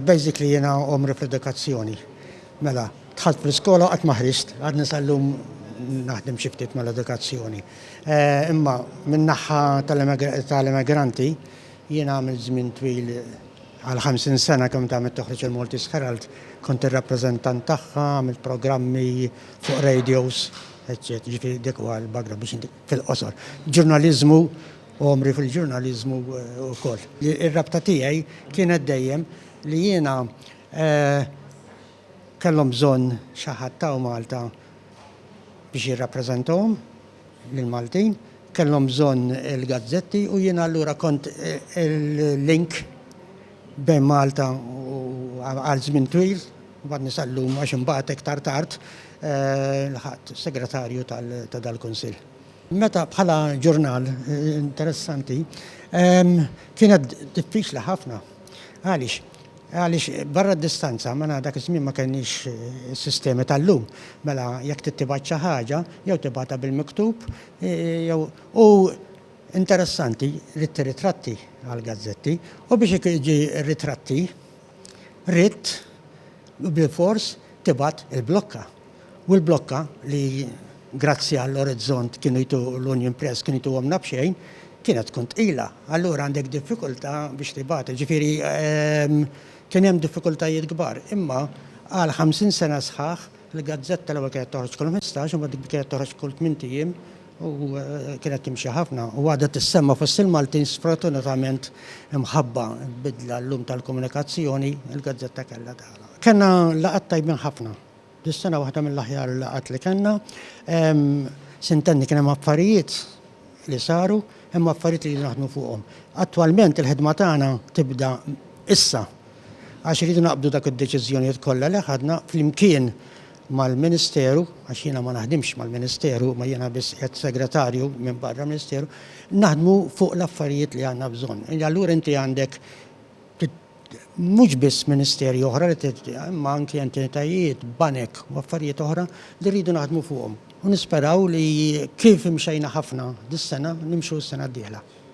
Basically jiena omri fl-edukazzjoni. Mela, dħalt fl-iskola qatt ma ħriġt, għadni sal-lum naħdem xi ftit mal-edukazzjoni. Eh, imma min-naħħa tal-immigranti jiena għamil żmien twil għal 50 sena kemm tagħmel toħroġ il-Maltese Herald, kont ir-rappreżentant tagħha, għamilt programmi fuq radios, eċċetera, ġifieri dik huwa l-bagra biex fil-qosor. Ġurnaliżmu Għomri fil-ġurnaliżmu wkoll. Ir-rabta tiegħi kienet dejjem li jiena kellhom bżonn xi ħadd hawn Malta biex jirrappreżentahom lill-Maltin, kellhom bżonn il-gazzetti u jiena allura kont il-link bejn Malta u għal żmien twil, mbagħadni sal-lum għax imbagħad iktar tard lħaqt segretarju ta' dal-Kunsill. Meta bħala ġurnal interessanti kienet diffiċli ħafna. Għaliex? Għaliex barra d-distanza, mela dak iż-żmien ma kellniex is-sistemi tal-lum. Mela jekk trid tibgħat xi ħaġa, jew tibgħatha bil-miktub, jew u interessanti, ridt ir-ritratti għall-gazzetti, u biex jiġi r-ritratti, Ridt bilfors tibgħat il-blokka. U l-blokka li grazzi għall-orizzont kienu jtu l-Union Press kienu jtuhomna b'xejn, kienet tkun tqila. Allura għandek diffikultà biex tibgħat. Jiġifieri kien hemm diffikultajiet kbar. Imma għal 50 sena sħaħ il-gazzetta l-ewwel kienet toħroġ kull ħmistax imbagħad kienet toħroġ kull tmint ijiem, u kienet timxi ħafna u għadha tissemma fost il-Maltin sfortunatament imħabba bidla llum tal-komunikazzjoni il-gazzetta kellha tagħlaq. Kellna laqgħat tajbin ħafna. Dis-sena waħda mill-aħjar laqgħat li kellna. Sintenni kien hemm affarijiet li saru, hemm affarijiet li naħdmu fuqhom. Attwalment il-ħidma tagħna tibda issa għax iridu naqbdu dak id-deċiżjonijiet kollha li ħadna flimkien mal-Ministeru, għax jiena ma naħdimx mal-Ministeru imma jiena biss qiegħed segretarju minn barra Ministeru, naħdmu fuq l-affarijiet li għandna bżonn. Allura inti għandek mhux biss ministeri oħra li imma anki entitajiet, banek u affarijiet oħra li rridu naħdmu fuqhom. U nisperaw li kif imxejna ħafna dis-sena nimxu s-sena d-dieħla.